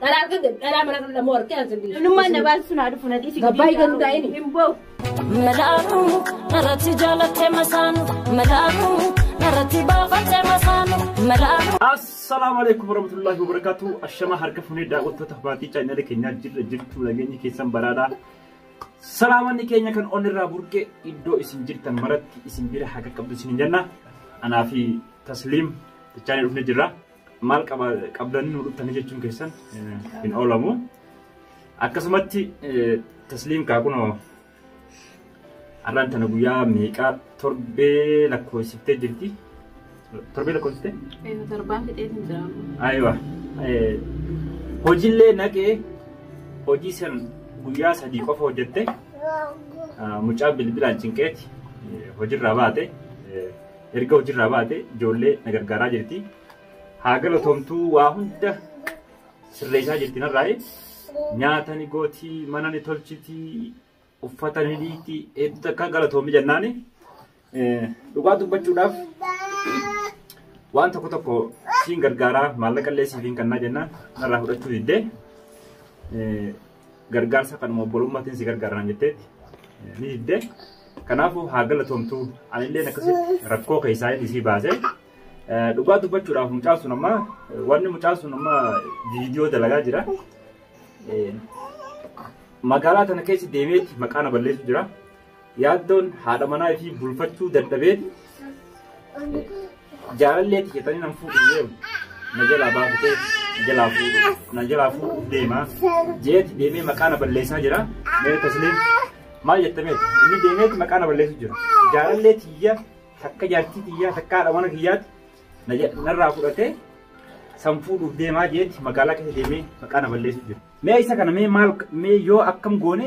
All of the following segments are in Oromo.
Dhalaa argate dhalaa mana kan lamoo argate ansa bilisa. Namummaan na baasu sun haa dhufu na dhiisi. Gabbaa hiikan nu taa'ini. Hin boofu. Malaalu narratti jaalattee masaanu malaalu narratti baafattee masaanu malaalu. Assalaamu alaikum warahmatullahi wabarakatuh. Ashama harka funee daawwattoota maatii chaayinaala keenyaa jirra jirtu nageenyi keessan baraadha. Salaamanni keenya kan onirraa burqe iddoo isin jirtan maratti isin bira haqa qabdu isin jenna. Anaa fi Tasliim bichaanii dhufne jirra. Maal qabdanii nu dhuftanii jechuun keessan hin oolamu. Akkasumatti tasliim kaa kunoo har'aan tana guyyaa meeqaa torbee lakkoofsiftee jirti. Torbee lakkoofsiftee? Eeyyuu torbaan fixee hin jiraatu. Ayiwa. Hojiillee naqee hojii san guyyaa sadii qofa hojjette mucaa bilbilaan cinqeeti hojirraa baate. Erga hojirraa baate ijoollee na gargaaraa jirti. Haa galatoomtuu waa hunda sirreessaa jirti narraayi. Nyaata ni gooti, mana ni tolchiti, uffata ni dhiitti, hedduu takka galatoomi jennaani. Eh, Dhugaa dubbachuudhaaf waan tokko tokko siin gargaaraa maallaqa illee siif hin kennaa jennaan narraa fudhachuu diddee. Eh, gargaarsa kanuma obbolummatiin si gargaara naan jetteetti ni didde. Kanaafuu haa galatoomtu anillee akkasitti rakkoo keessaa inni isii baase. Dhugaa dubbachuudhaaf mucaan sun amma wanni mucaan sun amma viidiyoo dalagaa jira. Magaalaa tana keessa deemeetti maqaa na balleessu jira. Yaaddoon haadha manaa ishii bulfachuu dadhabeeti jaalallee ti jetanii nan fuudhu deemu. Na jalaa baafatee na jalaa fuudhu na jalaa fuudhu deema. Jeeti deemee maqaa na balleessaa jira. Meerri tasliim maal jettameeti inni deemeeti maqaa na balleessu jira. Jaalallee tiyya takka jaartii tiyya takka haadha mana kiyyaati na ja- narraa fudhatee san fuudhuuf deemaa jeeti magaalaa keessa deemee maqaa na balleessu jira. Mee isa kana mee maal mee yoo akkam goone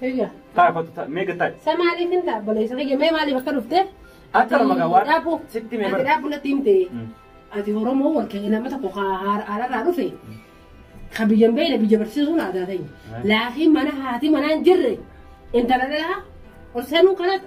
Kiyya. Taa kottu taa mee gattaa. Sa maaliif hin ta'a obboleessa kiyya mee maaliif akka dhufte? Akka nama gaa waan Dhaabu. sitti mee Ati bara. dhaabu natti himte. Mm. Ati Oromoo wal ka'ee nama tokko haa- haa- haararraa dhufe. Ka biyya hin beekne biyya barsiisuun aadaa ta'e. Laakiin mana haati manaa hin jirre intala dhalaa ol seenuu kanatti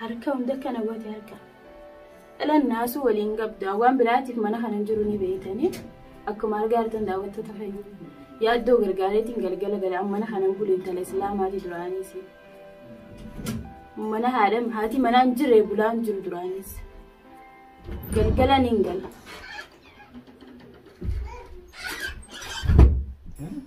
Harka hunda kana goote harka. Dhalan naasuu waliin qabdu waan biraatiif mana kana hin jiru ni beeytanii akkuma argaa jirtan daawwattoota fayyuu. Yaaddoo gargaareetiin galgala gala amma mana kana hin bulu intala islaamaati duraaniis. Mana haadha haati manaa hin jirre bulaa hin jiru duraaniis. Galgala ni hin gala.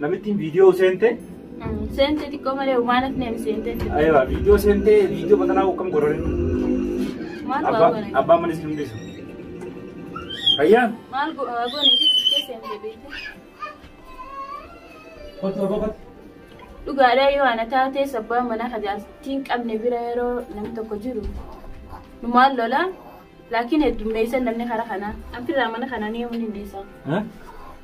Namittiin viidiyoo seente. Seente xiqqoo malee waan hafne hin seente. Ayiwa viidiyoo seente viidiyoo batanaa akkam godhani. Maal Abbaa goone? abbaan manis hin dhiisu. Fayyaan. Maal go- haa goone fi xiqqee seente beekte. Kottu roba kottu. Dhugaadhaa yoo ana taatee sabbaan mana kajaastiin qabne bira yeroo namni tokko jiru. Nu maal lola? Laakiin heddummeessan namni karaa kanaa. Anfirraa mana kanaa ni humni hundeessaa. Eh?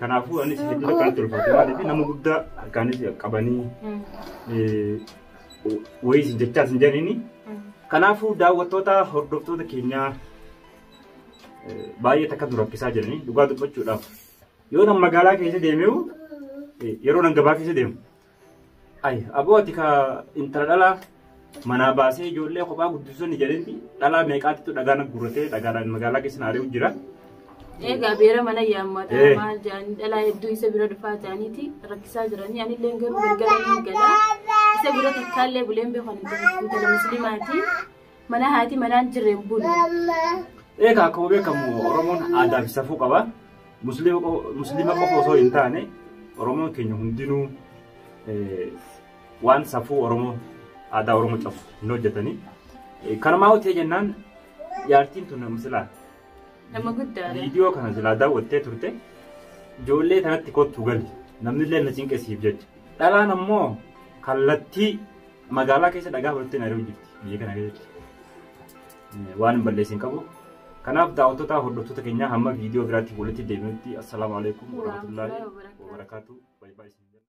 Kanaafuu anis hedduu takkaan itti ulfaate maaliif nama guddaa harkaanis qabanii wayii isin jechaa isin jedhanii. Kanaafuu daawwattoota hordoftoota keenyaa baay'ee takka nu rakkisaa jiranii dhugaa dubbachuudhaaf. Yoo nan magaalaa keessa deemee yeroo nan gabaa keessa deemu Ay aboo ati ka intala dhalaa manaa baasee ijoollee kophaa guddisuun jedhenti dhalaa meeqaatitu dhagaa na gurratee dhagaadhaan magaalaa keessa na ari'u jira. Egaa beera mana yaammata Eh. maal jaanii dhalaa hedduu isa bira dhufaa jaaniiti rakkisaa jiranii anillee garuu gargaara ni gala isa bira takkaallee buleen beekan intala musliimaati Mana haati manaan jirreen bulu. Egaa akkuma beekamu Oromoon aadaa fi safuu qaba. Musliima qo- Musliima qofa osoo hin taane Oromoon keenya hundinuu eh, waan safuu Oromoo aadaa Oromoo cabsu hin hojjetanii. Eh, Kanumaa hojii jennaan jaartiin tun nama silaa Nama guddaadha. viidiyoo kana silaa daawwattee turte ijoollee kanatti kottu gali namnillee na cinqisiif jecha. Dhalaan ammoo kallattii Magaalaa keessa dhagaa fudhattee naari'uu jirti. Biyya kana keessatti waan hin balleessin hin qabu. Kanaaf daawwattoota hordoftoota keenyaa hamma viidiyoo biraatti walitti deebinutti assalaamu alaikum warahmatullaahi wabarakaatu.